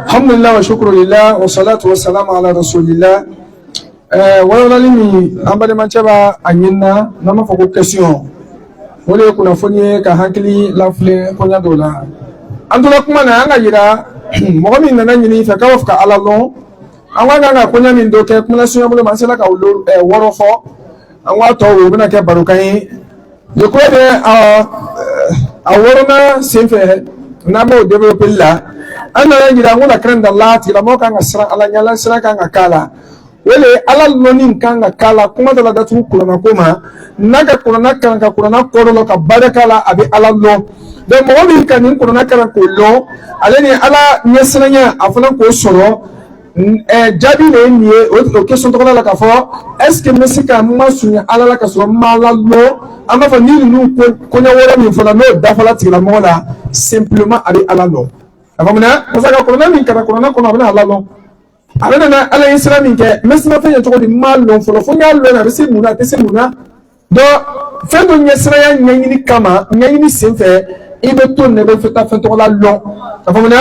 alhamdulilayi wa shukuru lila wa salatu wa salamu ala rasulillah ɛɛ walawalali min an balimacɛ b'a ɲini na n'an b'a fɔ ko kɛsiyɔn o de ye kunnafoni ye ka hakili lafile koɲa dɔw la an tora kuma na an k'a yira mɔgɔ min nana ɲini fɛ k'a b'a fɛ ka ala lɔn a ka kan ka koɲa min dɔ kɛ kuma surunya bolo ma an sera ka olu ɛɛ wɔɔrɔ fɔ an k'a tɔ o bɛna kɛ barokan ye Je crois que euh, a wɔɔrɔnan senfɛ n'an b'o développer la an nana jira ko la crainte d'Allah tigilamɔgɔ kan ka siran Ala ɲɛ Ala siran kan ka k'a la o de ye Ala lɔnni kan ka k'a la kuma taala datugu kuranako ma n'a ka kurana kalan ka kurana kɔrɔ lɔn ka baara k'a la a bɛ Ala lɔn donc mɔgɔ min ka nin kurana kalan k'o lɔn ale ni Ala ɲɛsiranya a fana k'o sɔrɔ jaabi de ye nin ye o o question tɔgɔ la k'a fɔ est ce que n bɛ se ka n masurunya ala la ka sɔrɔ n ma ala lɔn an b'a fɔ ni ninnu koɲa wɔɔrɔ min fɔla n'o dafala tigilamɔgɔ la simplement a bɛ ala lɔn a faamuna parce que a kurana min karan kurana kɔnɔ a bɛna ala lɔn a bɛna na ala ɲɛsiran min kɛ n bɛ siran fɛn ɲɛ cogo di n m'a lɔn fɔlɔ fo n y'a lɔn a bɛ se mun na a tɛ se mun na donc fɛn dɔ ɲɛsiranya ɲɛɲini kama ɲɛɲini senfɛ i bɛ to nin na i bɛ fɛ taa fɛn tɔgɔ la lɔn a faamuna.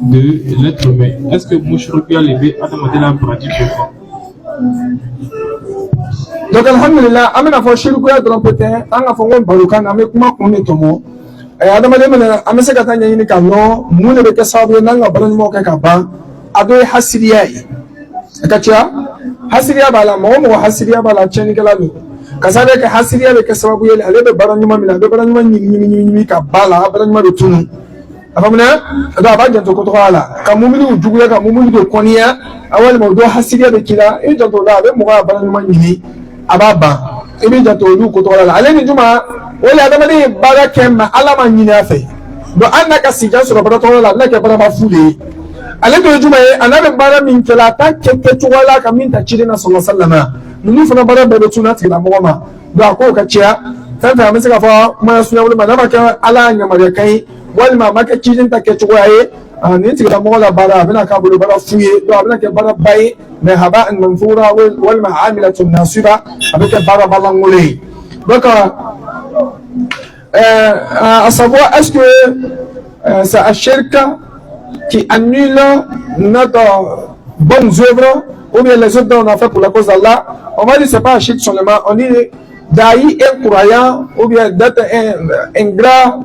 de l'être humain est ce que mushrikiya de bɛ adamaden na baraji bɛɛ bɔ. donc alhamdulilah an bɛna a fɔ shirikuya dɔrɔn pe tɛ an k'a fɔ ko barokan na an bɛ kuma kun de tɔmɔ adamaden mana an bɛ se ka taa ɲɛɲini k'a lɔn mun de bɛ kɛ sababu ye n'an ka baara ɲumanw kɛ k'a ban a dɔ ye hasiriya ye a ka ca hasiriya b'a la mɔgɔ mɔgɔ hasiriya b'a la tiɲɛnikɛla don ka sababu kɛ hasiriya bɛ kɛ sababu ye ale bɛ baara ɲuman min na a bɛ baara ɲuman ɲimi ɲimi ɲimi k'a ban a la a baara ɲuman bɛ tunun a faamuna donc a b'a janto ko tɔgɔ la ka muumini juguya ka muumini dɔ kɔniya a walima mɔgɔ dɔ hasidiya bɛ k'i la i janto o la a bɛ mɔgɔ ka baara ɲuman ɲimi a b'a ban i b'i janto olu ko tɔgɔ la ale ni jumɛn o le adamaden ye baara kɛ min ala m'a ɲini a fɛ donc hali n'a ka sijan sɔrɔ baara tɔgɔ la a bɛna kɛ baaraba fu de ye ale dɔ ye jumɛn ye a n'a bɛ baara min kɛ la a t'a kɛ kɛcogo la ka min ta ciden na sallallahu alayhi wa sallam ninnu fana baara bɛɛ bɛ tunun a tigilamɔgɔ ma donc a ko ka caya fɛn fɛn an bɛ se k'a fɔ kuma surunya bolo ma n'a ma kɛ ala y'a yamaruya kan ye walima a ma kɛ ciden ta kɛcogoya ye nin tigilamɔgɔ la baara a bɛna k'a bolo baara fu ye a bɛna kɛ baaraba ye mais haba manthura walima amilatun nasiba a bɛ kɛ baaraba lankolon ye donc à savoir est-ce que c'est un shirk qui annule notre bonnes œuvres ou bien les œuvres qu'on a fait pour la cause d'Allah, on va dire c'est pas un shirk seulement, on dit d'ailleurs un croyant ou bien d'être un, un grand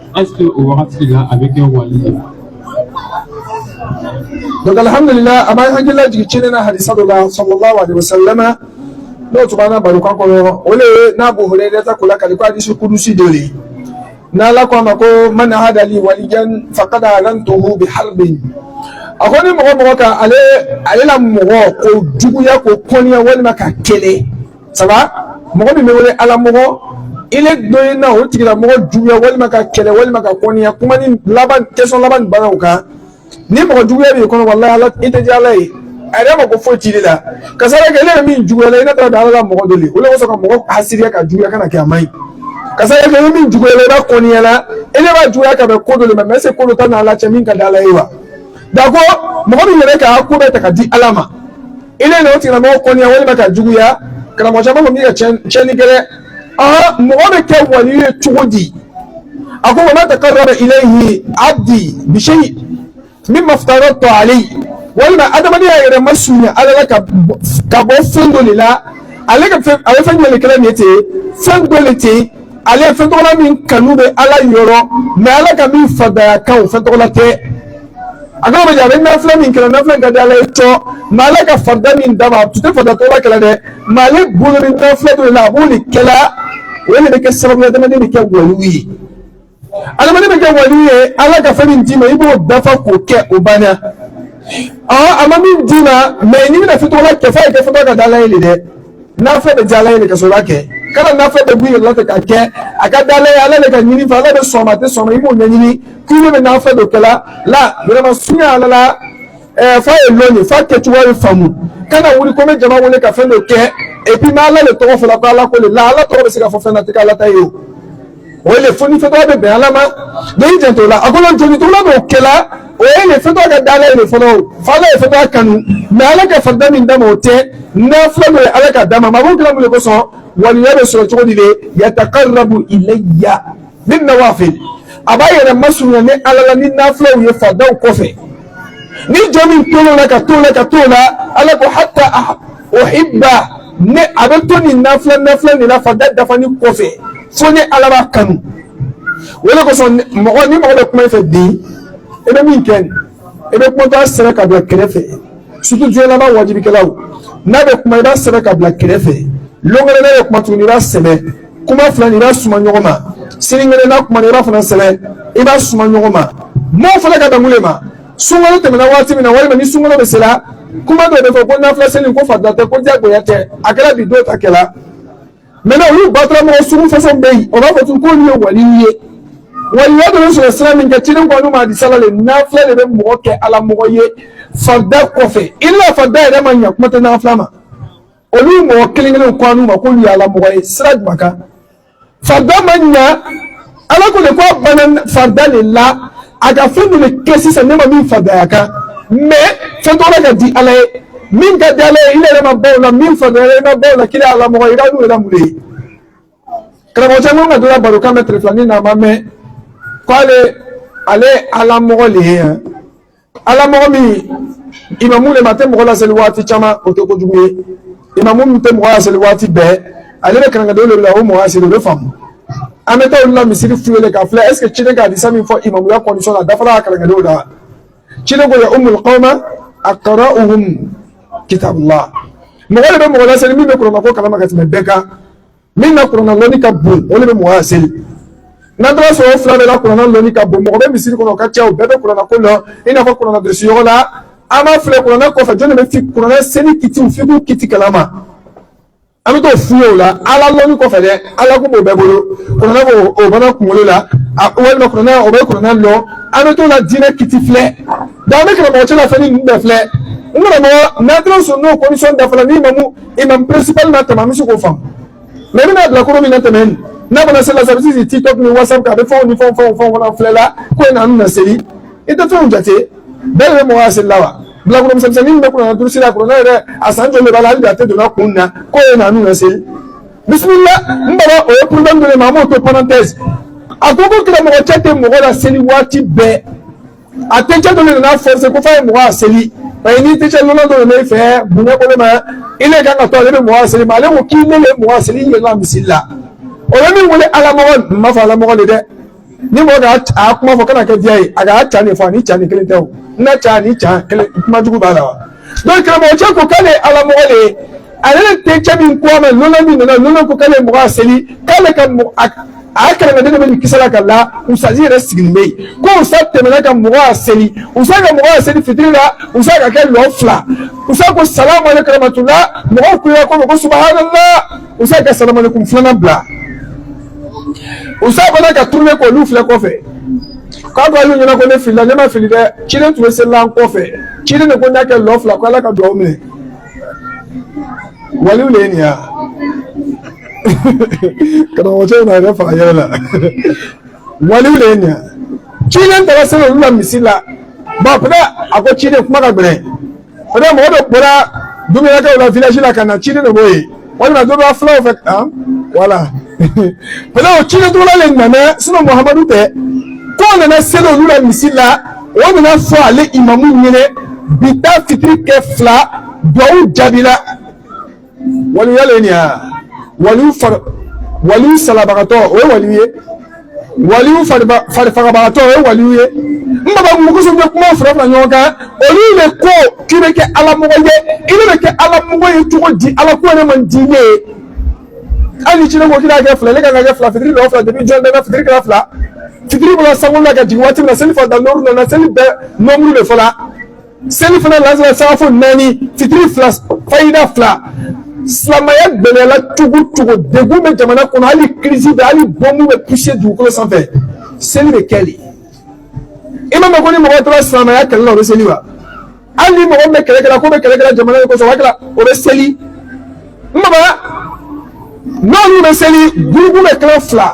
Est-ce que o wagati la a bɛ kɛ wali ye donc alhamdulila a b'an hakili lajigin ciden na hadisa dɔ la sallallahu alaihi wasallam n'o tun b'an ka barokan kɔnɔ o le ye n'Abu Hurayrata k'o lakali ko hadisi kudusi dɔ le n'ala ko a ma ko man ada li waliyan faqad azantuhu bi harbin a ko ni mɔgɔ mɔgɔ ka ale ale la mɔgɔ k'o juguya k'o kɔniya walima k'a kɛlɛ sabu mɔgɔ min bɛ wele ala mɔgɔ i le dɔ ye na o tigilamɔgɔ juguya walima k'a kɛlɛ walima k'a kɔniya kuma ni laban question laban nin bɛ na o kan ni mɔgɔ juguya b'i kɔnɔ walahi ala i tɛ diya ala ye a yɛrɛ ma ko foyi t'i de la ka sababu kɛ ne yɛrɛ min juguyala i ne taara da ala ka mɔgɔ dɔ le o le kosɔn ka mɔgɔ hasiriya ka juguya kana kɛ a man ɲi ka sababu kɛ ni min juguyala i b'a kɔniya la i le b'a juguya ka bɛn ko dɔ le ma mɛ est-ce que dɔ t'a n'ala cɛ min ka di ala ye wa janko mɔgɔ min yɛrɛ k'a ko bɛɛ ta ka di ala ma i le n'o tigilamɔgɔ kɔniya walima k'a juguya karamɔgɔ caman kɔni bɛ ka tiɲɛni kɛ dɛ aa mɔgɔ bɛ kɛ wali ye cogo di a ko wa ma taqarraba ilayhi abdi bi shay mimma aftaratu alayhi walima adamaden y'a yɛrɛ masurunya ala la ka bɔ fɛn dɔ le la ale ka fɛn a bɛ fɛn jumɛn le kɛla nin ye ten fɛn dɔ le ten ale ye fɛn tɔgɔla min kanu bɛ ala yɔrɔ mɛ ala ka min farida a kan o fɛn tɔgɔla tɛ a kana maja a bɛ nafila min kɛla nafila ka di ala ye cɔ mɛ ala ka farida min d'a ma a tun tɛ farida tɔgɔla kɛla dɛ mɛ ale bolo ni nafila dɔ le la a b'o le kɛla o le bɛ kɛ sababu ye adamaden bɛ kɛ waliyu ye adamaden bɛ kɛ waliyu ye ala ka fɛn min d'i ma i b'o dafa k'o kɛ o banna ɔ a ma min d'i ma mɛ n'i bɛna fɛn tɔgɔla kɛ f'a ye kɛ fɛn tɔgɔ ka di ala ye le dɛ n'a fɛn bɛ diya ala ye le ka sɔrɔ kɛ kana na fɛn dɔ b'i yɛrɛ fɛ k'a kɛ a ka d'ala ye ala le ka ɲini fɛ ala bɛ sɔn a ma a tɛ sɔn a ma i b'o ɲɛɲini k'i bɛna fɛn dɔ kɛla la yɛrɛ masurunya ala la ɛɛ f'a ye lɔn ye f'a kɛcogoya ye faamu kana wuli ko n bɛ jama wele ka fɛn dɔ kɛ epi n'ala le tɔgɔ fɔla ko ala ko le la ala tɔgɔ bɛ se ka fɔ fɛn na tɛ k'ala ta ye o. o le fo ni fɛn tɔgɔ bɛ bɛn ala ma n'i jantola a kɔnɔ jɔnnin tɔgɔla b'o kɛla o ye le fɛn tɔgɔ ka d'ala ye le fɔlɔ fo ala ye fɛn tɔgɔ kanu mɛ ala ka farida min d'a ma o tɛ nafila min ye ala ka d'a ma mɛ a b'o kɛla mun le kosɔn waliya bɛ sɔrɔ cogo di le yataqarrabu ilayya bin nawafil a b'a yɛrɛ masurunya ni ala la ni nafilaw ye faridaw kɔfɛ ni jɔn min to la ka to la ka to la ala ko hatta Uhibba ne a bɛ to ni nafilaw nin na farida dafani kɔfɛ fo ne ala b'a kanu o le kosɔn mɔgɔ ni mɔgɔ bɛ kuma i fɛ dɛ i bɛ min kɛ i bɛ kuma sɛbɛn ka bila kɛrɛfɛ surtout jɛba wajibikɛlaw n'a bɛ kuma i b'a sɛbɛn ka bila kɛrɛfɛ lon wɛrɛ n'a bɛ kuma tuguni i b'a sɛbɛn kuma filanin i b'a suma ɲɔgɔn ma sinikɛnɛ n'a kuma i b'a fana sɛbɛn i b'a suma ɲɔgɔn ma maaw fana ka damu ma sunkalo tɛmɛna waati min na walima ni sunkalo bɛ sera kuma dɔ bɛ fɔ ko nafila seli ko farida tɛ ko diyagoya tɛ a kɛra bi don ta kɛla mɛ na olu batara mɔgɔ sugu façon bɛ yen o b'a fɔ tun k'olu ye waliw ye waliya dɔ bɛ sɔrɔ sira min kɛ ciden ko anu ma hadisa la le nafila de bɛ mɔgɔ kɛ ala mɔgɔ ye farida kɔfɛ i la farida yɛrɛ ma ɲɛ kuma tɛ nafila ma olu mɔgɔ kelen kelen ko anu ma k'olu ye ala mɔgɔ ye sira jumɛn kan Farida ma ɲɛ ala ko de ko bana farida de la a ka fɛn de kɛ sisan ne ma min faridaya kan mɛ fɛn tɔgɔ ka di ala ye min ka di ala ye i yɛrɛ ma ban o la min faridaya i ma ban o la k'ile ala mɔgɔ i ka n'u yɛrɛ mun ye karamɔgɔ cɛ n ko n ka dɔ la barokan mɛn telefɔni na a ma mɛn k'ale ale ye ala mɔgɔ de ye yan ala mɔgɔ min imamu le ma tɛ mɔgɔ laseli waati caman o tɛ kojugu ye imamu min tɛ mɔgɔ laseli waati bɛɛ ale bɛ kalankadenw de bila o mɔgɔ laseli o bɛ faamu an bɛ taa olu la misiri f'u ye k'a filɛ est ce que ciden ka hadisa min fɔ imamuya condition na dafara a kalankadenw la ciden ko ya umul qawma aqra'uhum kitabullah mɔgɔ de bɛ mɔgɔ laseli min bɛ kuranna ko kalama ka tɛmɛ bɛɛ kan min ka kuranna lɔnni ka bon o de bɛ mɔgɔ laseli n'an taara sɔrɔ o fila bɛɛ la kuranna lɔnni ka bon mɔgɔ bɛ misiri kɔnɔ o ka ca o bɛɛ bɛ kuranna ko lɔn i n'a fɔ kuranna durusi yɔrɔ la an b'a filɛ kuranna kɔfɛ jɔn de bɛ fi kuranna seli kiti fiqhu kiti kalama an bɛ t'o f'u ye o la ala lɔnni kɔfɛ dɛ ala ko b'o bɛɛ bolo kuranna b'o o bana kunkolo la walima kuranna o bɛ kuranna lɔn an bɛ t'o la diinɛ kiti filɛ donc an bɛ karamɔgɔ cɛ la fɛn ni ninnu bɛɛ filɛ n karamɔgɔ n'an taara sɔrɔ n'o condition dafara ni imamu imamu principal na tɛmɛ an bɛ se k'o faamu mɛ i bɛna bilakoro min na tɛmɛ nin n'a bana seli la sa a bɛ sigi tiktok ni whatsapp kan a bɛ fɛnw ni fɛnw fɛnw fɛnw fana filɛ la ko in na an bɛna seli i tɛ fɛnw jate bɛɛ de bɛ mɔgɔ laseli la wa bilakoro misɛnmisɛnnin min bɛ kuranna durusi la kuranna yɛrɛ a san joli de b'a la hali bi a tɛ donna kun na ko in na an bɛna seli bisimila n baba o ye problème dɔ de ma an b'o to parenthèse a ko ko karamɔgɔ cɛ tɛ mɔgɔ laseli waati bɛɛ a tɛcɛ dɔ de nana forcer ko f'a ye mɔgɔ a seli parce que ni tɛcɛ lolan dɔ de bɛ fɛ bonya ko ale ma ile kan ka to ale bɛ mɔgɔ a seli ma ale ko k'ile bɛ mɔgɔ a seli i ye na bisimila o ye min wele alamɔgɔ n m'a fɔ alamɔgɔ tɛ dɛ ni mɔgɔ ka a kuma fɔ kana kɛ diya ye a ka ca de fɔ ani ca ni kelen tɛ o n na ca ni ca kelen kuma jugu b'a la wa donc karamɔgɔ cɛ ko k'ale ye ala mɔgɔ de ye ale tɛcɛ min ko a ma lolan min nana lolan ko k'ale ye mɔgɔ a seli k'ale ka mɔgɔ a kalankaden dɔ bɛ nin kisɛ la ka la usazi yɛrɛ sigilen bɛ yen ko usa tɛmɛna ka mɔgɔ a seli usa ka mɔgɔ a seli fitiri la usa k'a kɛ lɔ fila usa ko salamu alekun rahamatula mɔgɔw kulela ko ko subahanala usa ka salamu alekun filanan bila u sa fana ka tourner ko olu filɛ kɔfɛ k'a ko alu ɲɛna ko ne filila ne ma fili dɛ ciden tun bɛ seli an kɔfɛ ciden de ko n'a kɛ lɔ fila ko ala ka dugawu minɛ waliw de ye nin ya karamɔgɔcɛ in na yɛrɛ faga yɛrɛ la waliw de ye nin ya ciden taara seli olu la misiri la ba peut-être a ko ciden kuma ka gɛlɛn peut-être mɔgɔ dɔ bɔra dumunakɛw la village la ka na ciden de b'o ye walima dɔ b'a fulaw fɛ kan wala peut-être o ciden tɔgɔma le nana sinɔn muhamadu tɛ k'o nana seli olu la misiri la o nana fɔ ale imamu ɲɛna bi ta fitiri kɛ fila duwawu jaabila waliya le nin ya waliw fari waliw salabagatɔ o ye waliw ye waliw farifagabagatɔ o ye waliw ye n baba mun kosɔn bɛ kuma fara fara ɲɔgɔn kan olu de ko k'i bɛ kɛ ala mɔgɔ ye i bɛ kɛ ala mɔgɔ ye cogo di ala ko de man di i ye hali ni ciden ko k'i b'a kɛ fila ne kan ka kɛ fila fitiri lɔ fila depi jɔn bɛɛ fitiri kɛra fila fitiri bɔra sangolo la ka jigin waati min na seli farida nɔmuru nana seli bɛɛ nɔmuru de fɔla selifana lansara sagafo naani fitiri fila fajiri fila silamɛya gɛlɛyala cogo o cogo degun bɛ jamana kɔnɔ hali kirisi bɛ hali bɔnmu bɛ puse dugukolo sanfɛ seli bɛ kɛ de i ma mɛn ko ni mɔgɔ tora silamɛya kɛlɛ la o bɛ seli wa hali ni mɔgɔ min bɛ kɛlɛ kɛla k'o bɛ kɛlɛ kɛla jamana de kosɔn o b'a kɛla o bɛ seli n'olu bɛ seli gurupu bɛ kɛla fila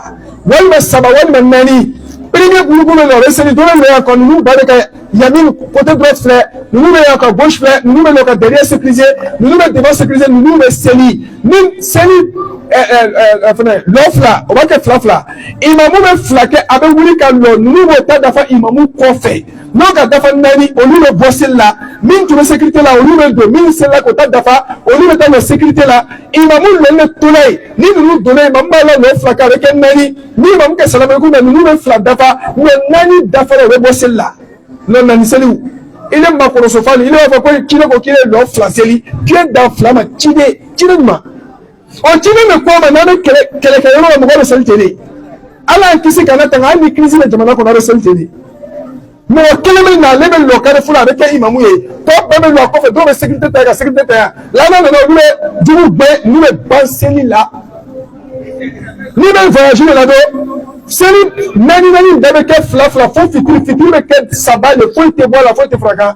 walima saba walima naani premier gurupu bɛ lɔ o bɛ seli dɔw bɛ yan ka ninnu ba de kɛ yanni côté droite filɛ ninnu bɛ yan ka gauche filɛ ninnu bɛ na ka derrière sekirize ninnu bɛ devant sekirize ninnu bɛ seli ni seli ɛɛ ɛɛ fɛnɛ lɔ fila o b'a kɛ fila fila imamu bɛ fila kɛ a bɛ wuli ka lɔ ninnu b'o ta dafa imamu kɔfɛ. n'o ka dafa naani olu bɛ bɔ seli la min tun bɛ sekirite la olu bɛ don min selila k'o ta dafa olu bɛ taa don sekirite la imamu le bɛ tola yen ni ninnu donna yen imamu b'a la lɔ fila k'a bɛ kɛ naani ni imamu kɛ salamaliku na ninnu bɛ fila dafa mɛ naani dafara o bɛ bɔ seli la lɔ naani seli i le makɔrɔ sofali i le b'a fɔ ko k'i bɛ ko k'i bɛ lɔ fila seli k'i bɛ dan fila ma ciden ciden ma ɔ ciden bɛ kɔ ma n'an bɛ kɛlɛ kɛlɛkɛ yɔrɔ la mɔgɔ bɛ seli ten de ala y'an kisi k'an latanga hali ni kirisi bɛ jamana kɔnɔ a bɛ seli ten de mɔgɔ kelen bɛ na ale bɛ lɔ carrefour la a bɛ kɛ imamu ye tɔ bɛɛ bɛ lɔ a kɔfɛ dɔw bɛ sekirite ta yan ka sekirite ta yan laana nana olu bɛ jugu gɛn n'u bɛ ban seli la n'i bɛ voyage de la dɛ seli naani naani bɛɛ bɛ kɛ fila fila fo fitiri fitiri bɛ kɛ saba de foyi tɛ bɔ a la foyi tɛ fara a kan.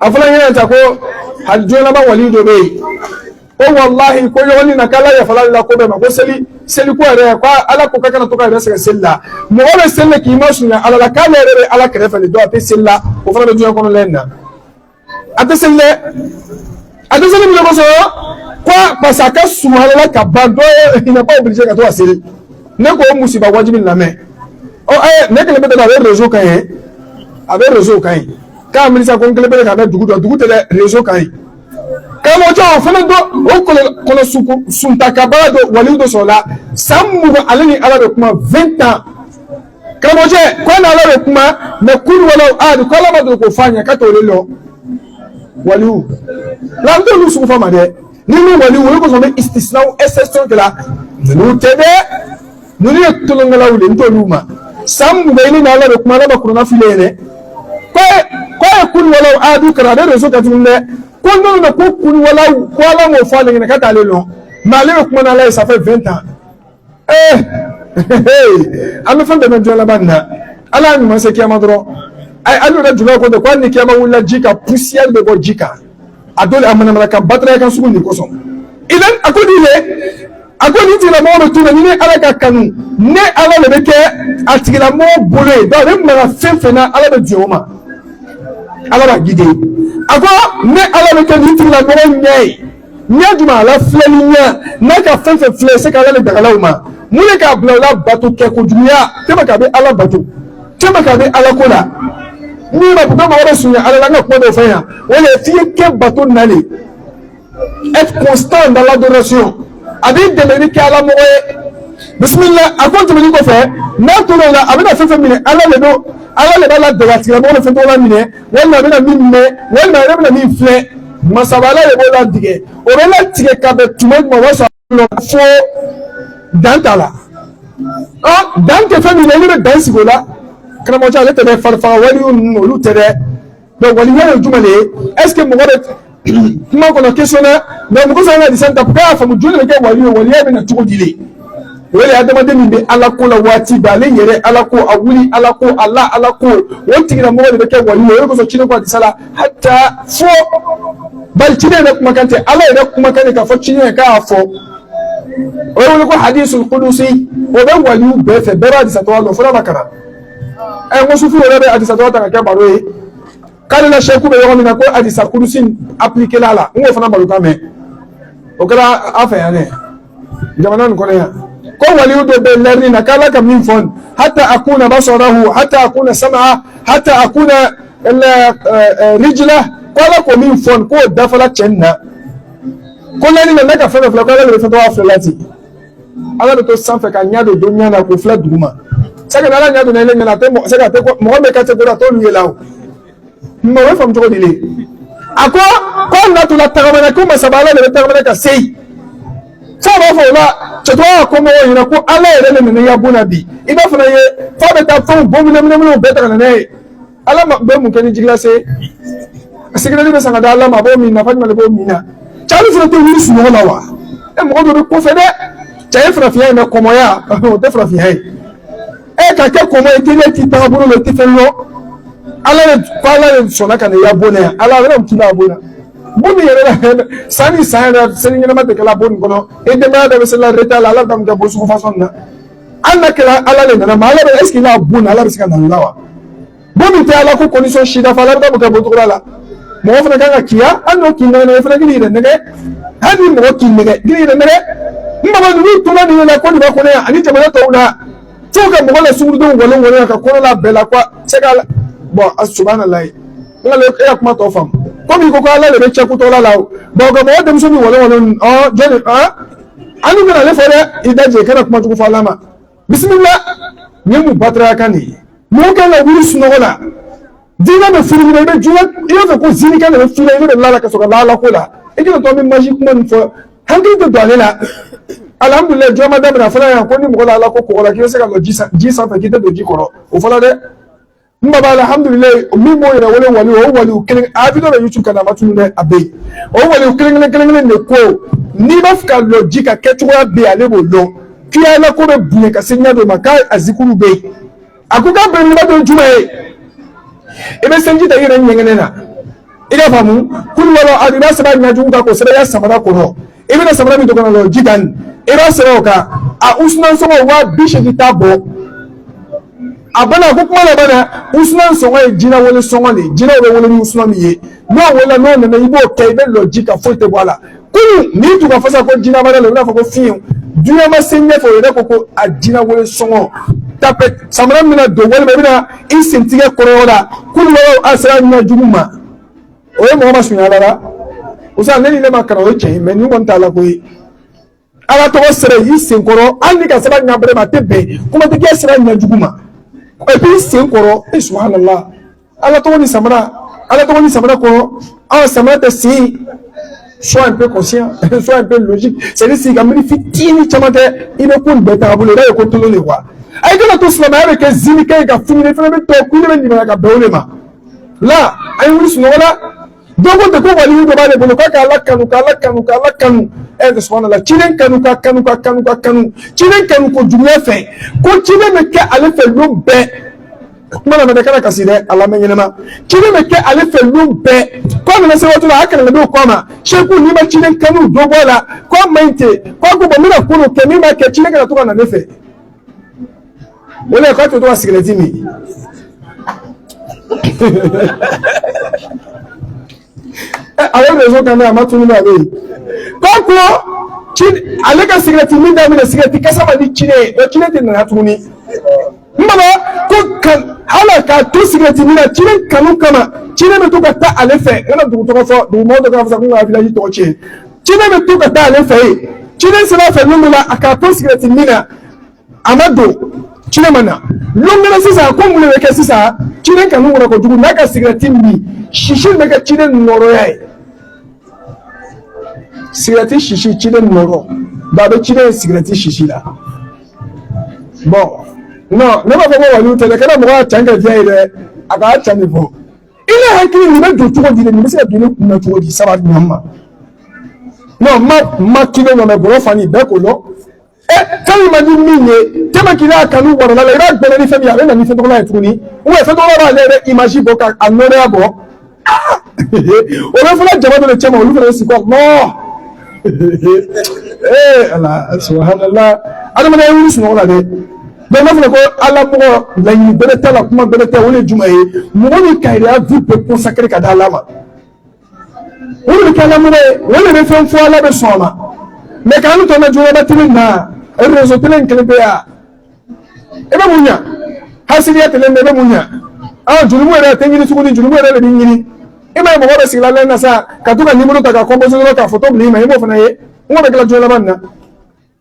a fɔla ɲɛna ta ko a jɔnaba wali dɔ bɛ yen ko walahi ko ɲɔgɔnni na k'ala yafalali la ko bɛɛ ma ko seli seli ko yɛrɛ ko ala ko k'a kana to k'a yɛrɛ sɛgɛn seli la mɔgɔ bɛ seli la k'i masurunya ala la k'ale yɛrɛ bɛ ala kɛrɛfɛ de dɔn a tɛ seli la o fana bɛ diɲɛ kɔnɔ lɛn na a tɛ seli dɛ A tɛ seli mun kosɔn quoi parce que a ka surun ala la ka ban donc il n'est pas obligé ka to ka seli ne ko o musiba wajibi lamɛn ɔ ɛ ne kelen bɛ dɔrɔn a bɛ réseau kan ye a bɛ réseau kan ye k'a miirisa ko n kelen bɛ ka bɛ dugu dɔn dugu tɛ dɛ réseau kan ye karamɔgɔcɛ o fana dɔ o kɔlɔ suntakabaa dɔ waliw dɔ sɔrɔla san mugan ale ni ala bɛ kuma 20 ans karamɔgɔcɛ ko e n'ala bɛ kuma mais kulu wala adu ko ala ma don k'o f'a ɲɛ k'a t'o de lɔn waliw la n t'olu sugu fɔ ma dɛ ni min waliw olu kosɔn bɛ istisinaw exception kɛra ninnu tɛ dɛ ninnu ye tolonkɛlaw de n t'olu ma san mugan bɛ i ni n'ala bɛ kuma ala ma kurana filɛ ye dɛ ko e ko e kulu wala adu kalan a bɛ réseau kan tuguni dɛ ko n'olu na ko kulu wala ko ala m'o fɔ ale ɲɛna k'a t'o le lɔn mais ale bɛ kuma n'ala ye ça fait 20 ans ee an bɛ fɛn bɛɛ mɛn diɲɛ laban na ala y'a ɲuman se kiyama dɔrɔn a ye alu ka jula ko dɛ ko hali ni kiyama wulila ji kan poussière bɛ bɔ ji kan a dɔ la a manamana kan bataraya kan sugu nin kosɔn idan a ko nin ye a ko nin tigilamɔgɔ bɛ to la ni ne ala k'a kanu ne ala de bɛ kɛ a tigilamɔgɔ bolo ye n'a bɛ maga fɛn fɛn na ala bɛ diɲɛ o ma ala b'a guider a ko ne ala bɛ kɛ nin tigilamɔgɔ ɲɛ ye ɲɛ jumɛn a la filɛli ɲɛ n'a ka fɛn fɛn filɛ c'est que ala le dagala o ma mun le k'a bila o la bato kɛ kojuguya tɛmɛ k'a bɛ ala bato tɛmɛ k'a bɛ ala ko la n'i ma ko mɔgɔ bɛ surunya ala la an ka kuma dɔ fɔ yan o de ye f'i ye kɛ batona le être constant dans l'adoration a b'i dɛmɛ n'i kɛ ala mɔgɔ ye bisimila a ko tɛmɛni kɔfɛ n'a tora o la a bɛna fɛn fɛn minɛ ala de don ala de b'a ladaga a tigilamɔgɔ bɛ fɛn tɔgɔ la minɛ walima a bɛna min mɛn walima a yɛrɛ bɛna min filɛ masabala de b'o latigɛ o bɛ latigɛ ka bɛn tuma jumɛn o b'a sɔrɔ fo dan t'a la ɔ dan tɛ fɛn min na olu bɛ dan sigi o la karamɔgɔcɛ ale tɛ dɛ farifaga waliw ninnu olu tɛ dɛ donc wali o le ye jumɛn de ye est ce que mɔgɔ bɛ kuma kɔnɔ question dɛ mais mɔgɔ sɔrɔ ka adisa nin ta bɛɛ y'a faamu jɔn le bɛ kɛ wali ye waliya bɛ na cogo di le o de ye adamaden min bɛ ala ko la waati bɛɛ ale yɛrɛ ala ko a wuli ala ko a la ala ko o tigilamɔgɔ de bɛ kɛ wali ye o de kosɔn ciden ko adisa la hata fo bari ciden yɛrɛ kumakan tɛ ala yɛrɛ kumakan de k'a fɔ ciden yɛrɛ k'a fɔ o ye wele ko hadisul kudusi o bɛ waliw bɛɛ fɛ bɛɛ bɛ adisa tɔ dɔn fo n'a ma kalan ɛ n ko sufi yɛrɛ bɛ adisa tɔ ta ka kɛ baro ye k'ale la sɛku bɛ yɔrɔ min na ko adisa kudusi appliquéla a la n k'o fana baro kan mɛn o kɛra a fɛ yan dɛ jamana nin kɔnɔ yan ko waliyu dɔ bɛ lɛrini na k'ala ka min fɔ hata akuna basarahu hata akuna samaa hata akuna rijila k'ala ko min fɔ k'o dafala cɛ nin na ko lɛrini na ne ka fɛn dɔ filɛ k'ala de bɛ fɛn dɔ b'a filɛ la ten ala bɛ to sanfɛ ka ɲa don don ɲa na k'o filɛ duguma sɛgɛ ala ɲa don ne ɲɛna tɛ mɔgɔ sɛgɛ tɛ mɔgɔ bɛ ka tɛ dɔrɔn a t'olu ye la o mɛ o bɛ faamu cogo di le a ko ko na tun tagamana ko masaba ala de bɛ tagamana ka se yen fo b'a fɔ o la cɛtɔgɔ ka kɔmɔgɔw ɲɛna ko ala yɛrɛ de nana i ka bon na bi i b'a fana ye f'a bɛ taa fɛnw bɔ minɛminɛminɛw bɛɛ ta ka na n'a ye ala ma bɛ mun kɛ ni ji glacé a sigilen bɛ sanga da ala ma a b'o min nafa jumɛn de b'o min na cɛ ale fana tɛ wuli sunɔgɔ la wa e mɔgɔ dɔ bɛ kɔfɛ dɛ cɛn ye farafinya ye mais kɔmɔgɔya o tɛ farafinya ye e ka kɛ kɔmɔgɔ ye teliya t'i taga bolo la i tɛ fɛn lɔn ala de ko ala de sɔnna ka na i ya bon na yan ala yɛrɛ ti na bon na bon min yɛrɛ la san ni san yɛrɛ seli ɲɛnama tɛ kɛla bon nin kɔnɔ e denbaya dɔ bɛ seli retard la ala bɛ taa mun kɛ bon sugu fasɔn na an na kɛra ala de nana ma ala bɛ est-ce que n'a bon na ala bɛ se ka na la wa bon min tɛ ala ko condition si dafa ala bɛ kɛ bon cogo la mɔgɔ fana kan ka kiya an n'o k'i nɛgɛn fana k'i yɛrɛ nɛgɛn hali ni mɔgɔ k'i nɛgɛn k'i yɛrɛ nɛgɛn n mago ninnu tora nin la ko nin bɛ kɔnɔ yan ani jamana tɔw la fo ka mɔgɔ la sungurundenw wɔlɔ wɔlɔ ka kɔnɔ la bɛɛ la ko a se ka bon a subhanallah n ka e ka kuma tɔ faamu komi ko ko ala de bɛ cɛ kutɔla la o bɔn ka mɔgɔ denmuso ni wɔlɔ wɔlɔ ɔ jɔn ɔ an dun bɛna ale fɔ dɛ i da jɛ i kana kuma jugu fɔ ala ma bisimila nin ye mun bataraya kan de ye mɔgɔ kan ka wuli sunɔgɔ la diinɛ bɛ furu ɲinɛ i bɛ jinɛ i b'a fɛ ko zinikɛ de bɛ furu i bɛ don lala ka sɔrɔ lala ko la i kana to an bɛ magie kuma nin fɔ hakili tɛ don ale la alihamudulilayi jɔn ma daminɛ a fɔra yan ko ni mɔgɔ la ala ko kɔgɔla k'i bɛ se ka lɔ ji sanfɛ k'i tɛ don ji kɔrɔ o fɔra dɛ n baba alhamdulilayi min b'o yɛrɛ wele wali o wali kelen a vidéo bɛ youtube kan a ma tunu dɛ a bɛ yen o wali kelen kelen kelen kelen de ko n'i b'a fɛ ka lɔ ji kan kɛcogoya bɛ ale b'o dɔn k'i ya ala ko bɛ bonya ka se ɲɛ dɔ ma k'a a zikuru bɛ yen a ko k'a bɛn nɔgɔ don juma ye i bɛ sanji ta i yɛrɛ ɲɛgɛnɛ na i ka faamu kulu huwa lahu a b'a sɛbɛn ɲajugu kan k'o sɛbɛn i ka samara kɔnɔ i bɛna samara min don ka na lɔ ji kan i b'a sɛbɛn o kan a usunan sɔngɔ waa bi seegin t'a bɔ a bana ko kuma laban na usunan sɔngɔ ye jinɛ wele sɔngɔ de ye jinɛw bɛ wele ni usunan min ye n'o wele n'o nana i b'o kɛ i bɛ lɔ ji kan foyi tɛ bɔ a la kunu n'i tun ka fasa ko jinɛ b'a la i b'a fɔ ko fiyew dunan ma se ɲɛfɛ o yɛrɛ ko ko a jinɛ wele sɔngɔ tapette samara min bɛna don walima i bɛna i sentɛgɛ kɔrɔ la kulu huwa sɛbɛn ɲɛ jugu ma. o ye mɔgɔ masurunya ala la usa ne ni ne ma kalan o ye cɛn ye mais ni kɔni t'a la ko i ye ala tɔgɔ sɛbɛn i sen kɔrɔ hali n'i k'a sɛbɛn ɲa bɛrɛ ma a tɛ bɛn kuma tɛ k'a sɛbɛn ɲɛ jugu ma et puis sen kɔrɔ e subhanallah ala tɔgɔ ni samara ala tɔgɔ ni samara kɔrɔ aw samara tɛ sen sois un peu conscient sois un peu logique c'est à dire sigi ka miiri fitinin caman tɛ i bɛ ko nin bɛɛ taga bolo i b'a ye ko tolon de quoi a ye kana to silamɛya bɛ kɛ zini kɛ ye ka fini fana bɛ tɔ kun ne bɛ ɲininka ka bɛn o de ma la a ye wuli sunɔgɔ la dɔ ko dɛ ko wali dɔ b'ale bolo k'a k'ala kanu k'ala kanu k'ala kanu ɛ subahanala ciden kanu ka kanu ka kanu ka kanu ciden kanu kojuguya fɛ ko ciden bɛ kɛ ale fɛ don bɛɛ k'i mana a mɛn i kana kasi dɛ a lamɛn ɲɛnama ciden bɛ kɛ ale fɛ don bɛɛ ko a nana se waati la a kalanden k'a ma seku n'i ma ciden kanu dɔ bɔ a la ko a man ɲi ten ko a ko bɔn n bɛna ko dɔ kɛ min b'a kɛ ciden kana to ka na ne fɛ O de ye k'a to ka sigɛrɛti min a ye réseau kan a ma tunu n'a bɛ yen k'a ko k'ale ka sigɛrɛti min daminɛ sigɛrɛti kasa man di ciden ye o ciden tɛna na tuguni n baba ko ka ala k'a to sigɛrɛti min na ciden kanu kama ciden bɛ to ka taa ale fɛ n kana dugu tɔgɔ fɔ dugu mɔgɔ dɔ k'a fɔ sa ko n ka village tɔgɔ tiɲɛ ciden bɛ to ka taa ale fɛ yen ciden sera a fɛ min la a k'a to sigɛrɛti min na a ma don ciden ma na don kɛra sisan ko mun de bɛ kɛ sisan ciden kanu wara kojugu n'a ka sigɛrɛti min sisi bɛ kɛ ciden nɔrɔya ye sigɛrɛti sisi ciden nɔrɔ ba a bɛ ciden ye sigɛrɛti sisi la bɔn non ne b'a fɔ ko waliw tɛ dɛ kɛra mɔgɔ ka can kɛ diya ye dɛ a k'a can de fɔ ile hakili nin bɛ don cogo di nin bɛ se ka don ne kun na cogo di sahaba ɲɔgɔn ma non ma ma kila nɔ mɛ bɔrɔ fan bɛɛ ko lɔn ɛ fɛn ma ni min ye tɛmɛ kila kanu warala i b'a gbɛlɛ ni fɛn min ye a bɛ na ni fotola ye tuguni ou bien fotola b'ale yɛrɛ image bɔ ka a nɔrɔya bɔ o bɛ fana jama dɔ de cɛ ma olu fana bɛ sigi ko nɔɔ ee ala subahanala adamaden a ye wuli sunɔgɔ la dɛ Donc n'a fɔra ko Ala mɔgɔ laɲini bɛrɛ t'a la kuma bɛrɛ tɛ o de ye jumɛn ye mɔgɔ min ka i yɛrɛ ya vie bɛɛ consacrer ka d'Ala ma o de bɛ kɛ Ala mɔgɔ ye o de bɛ fɛn fɔ Ala bɛ sɔn a ma mais k'an tɔ na jɔyɔrɔba tele na réseau tele in kelen bɛ yan i bɛ mun ɲa hasidiya tele in bɛ i bɛ mun ɲa aa jurumu yɛrɛ tɛ ɲini tuguni jurumu yɛrɛ de bɛ ɲini i m'a ye mɔgɔ bɛ sigila lɛn na sa ka to ka nimoro ta ka composer dɔrɔn ka photo bila i ma i m'o fana ye n ko bɛ kɛla jɔyɔrɔba nin na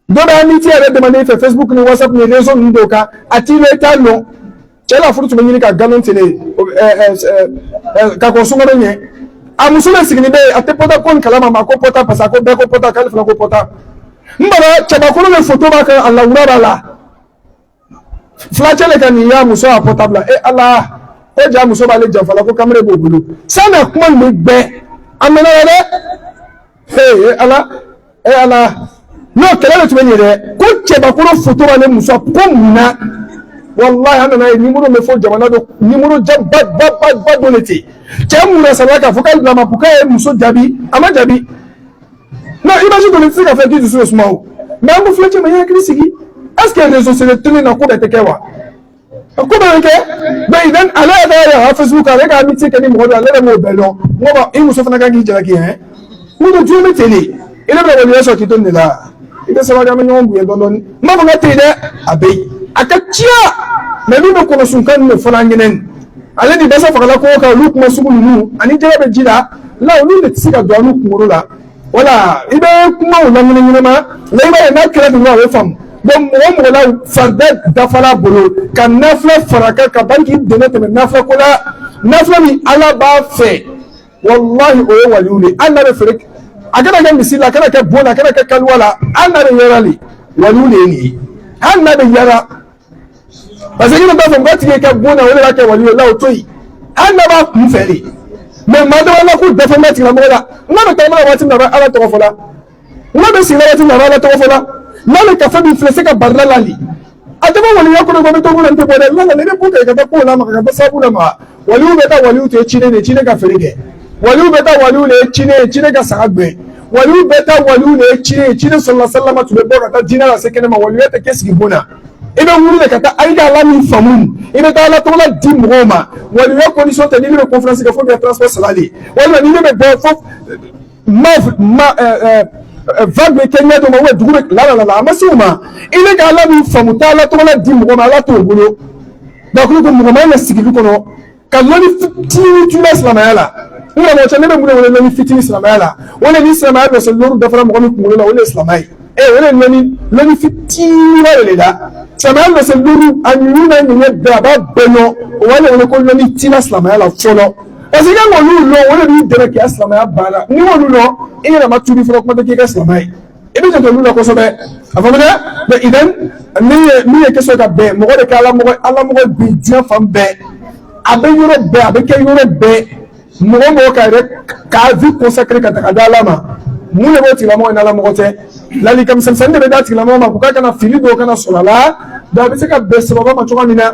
dɔ bɛ amitié yɛrɛ demander i fɛ facebook ni whatsapp ni réseau ninnu dɔw kan a t'i yɛrɛ ta lɔn cɛ la furu tun bɛ ɲini ka nkalon tele ka kɔn sunkalo ɲɛ a muso le siginin bɛ yen a tɛ pɔta ko nin kala ma ko pɔta parce que ko bɛɛ ko pɔta k'ale fana ko pɔta n bara cɛbakɔrɔ le foto b'a kan a lawura b'a la fulacɛ le ka nin y'a muso ya portable la e ala ko ja muso b'ale janfa la ko kameren b'o bolo san'a kuma nin bɛ gbɛ a mɛnna la dɛ ee e ala e ala n'o kɛlɛ de tun bɛ ɲɛ dɛ ko cɛbakɔrɔ foto b'ale muso ko mun na walahi an nana ye nimoro bɛ fɔ jamana dɔ nimoro ja ba ba ba ba dɔ de ten cɛ mun na sariya k'a fɔ k'ale bila ma ko k'a ye muso jaabi a ma jaabi non image kɔni tɛ se ka fɛn k'i dusu bɛ suma o mais an ko filɛ cɛ ma i hakili sigi est ce que réseaux sociaux tele na ko bɛɛ tɛ kɛ wa ko bɛɛ bɛ kɛ maintenant ale yɛrɛ yɛrɛ ha facebook ale ka amitié kɛ ni mɔgɔ dɔ ale yɛrɛ m'o bɛɛ dɔn mɔgɔ i muso fana kan k'i jalaki hɛn mun don diɲɛ bɛ ten de i yɛrɛ bɛ ka ɲɛ sɔrɔ k'i to nin de la i bɛ sabali an bɛ ɲɔgɔn bonya dɔɔnin dɔɔnin n b'a fɔ k'a tɛ yen dɛ a bɛ yen a ka ca mais min bɛ kɔnɔsunkan nin de fana ɲinɛn ale ni dɛsɛ fagala ko kan olu kuma sugu ninnu ani jɛgɛ bɛ ji la la olu de tɛ se ka don annu kunkolo la voilà i bɛ kumaw lamini ɲɛnama la i b'a ye n'a kɛra dun a bɛ faamu donc mɔgɔ mɔgɔ la farida dafa ala bolo ka nafila fara a kan ka ban k'i dɛmɛ tɛmɛ nafila ko la nafila min ala b'a fɛ walahi o ye waliw de ye hali n'a bɛ feere a kana kɛ misiri la a kana kɛ bon na a kana kɛ kaliwa la hali n'a bɛ yaala le waliw de ye nin ye hali n'a bɛ yaala parce que ne b'a fɔ n ka tile kɛ bon na o de b'a kɛ waliw ye la o to yen hali n'a b'a kun fɛ de mais maa dama na k'u dɛsɛ n bɛ tigilamɔgɔ la n'a bɛ taama na waati min na a bɛ ala tɔgɔ fɔ la n'a bɛ sigi la waati min na a bɛ ala tɔgɔ fɔ la n'a le kafa bi filɛ se ka barila lali a taama waliya kɔrɔ ko i bɛ to kɔnɔ n tɛ bɔ dɛ nana ne bɛ ko kɛ ka taa ko la maka ka ba sabu la maka waliyu bɛɛ ta waliyu de ciden ye ciden ka feere kɛ waliyu bɛɛ ta waliyu le ciden ciden ka saga gbɛn waliyu bɛɛ ta waliyu le ciden ciden sallallahu alaihi wasallam tun bɛ bɔ ka taa diina lase kɛnɛ ma waliyu tɛ kɛ sigi bon na i bɛ wuli de ka taa ayi ka ala min faamu i bɛ taa ala tɔgɔla di mɔgɔw ma waliya condition tɛ n'i bɛ conférence kɛ fo ka transport sara de walima n'i bɛ bɔ fo ma ma vague bɛ kɛ ɲɛ dɔ ma dugu bɛ la la la a ma se u ma i bɛ ka ala min faamu taa ala tɔgɔ di mɔgɔ ma ala t'o bolo donc ko mɔgɔ man kan ka sigi kɔnɔ ka lɔni fitinin tun bɛ silamɛya la n karamɔgɔ cɛ ne bɛ mun de wele lɔni fitinin silamɛya la o de ni silamɛya base lɔni dafara mɔgɔ min kunkolo la o de ye silamɛya ye ee o de ye lɔni lɔni fitinin ba de le la silamɛya base lɔni a ɲuman n'a ɲuman bɛɛ a b'a bɛɛ lɔn o b'a wele ko lɔni tina silamɛya la fɔlɔ Parce que n'olu dɔn o de b'i dɛmɛ k'i ka silamɛya banna n'i m'olu dɔn i yɛrɛ ma tuubi fɔlɔ kuma tɛ k'i kɛ silamɛ ye i b'i janto olu la kosɛbɛ a faamu dɛ maintenant min ye min ye question ka bɛn mɔgɔ de ka ala mɔgɔ ala mɔgɔ bi diɲɛ fan bɛɛ a bɛ yɔrɔ bɛɛ a bɛ kɛ yɔrɔ bɛɛ mɔgɔ mɔgɔ ka yɛrɛ k'a vie consacrer ka taga di ala ma mun de b'o tigilamɔgɔ in ala mɔgɔ tɛ ladilikan misɛnnin de bɛ d'a tigilamɔgɔ ma k'u ka kana fili dɔw kana sɔrɔ a la a bɛ se ka bɛn sahaba ma cogoya min na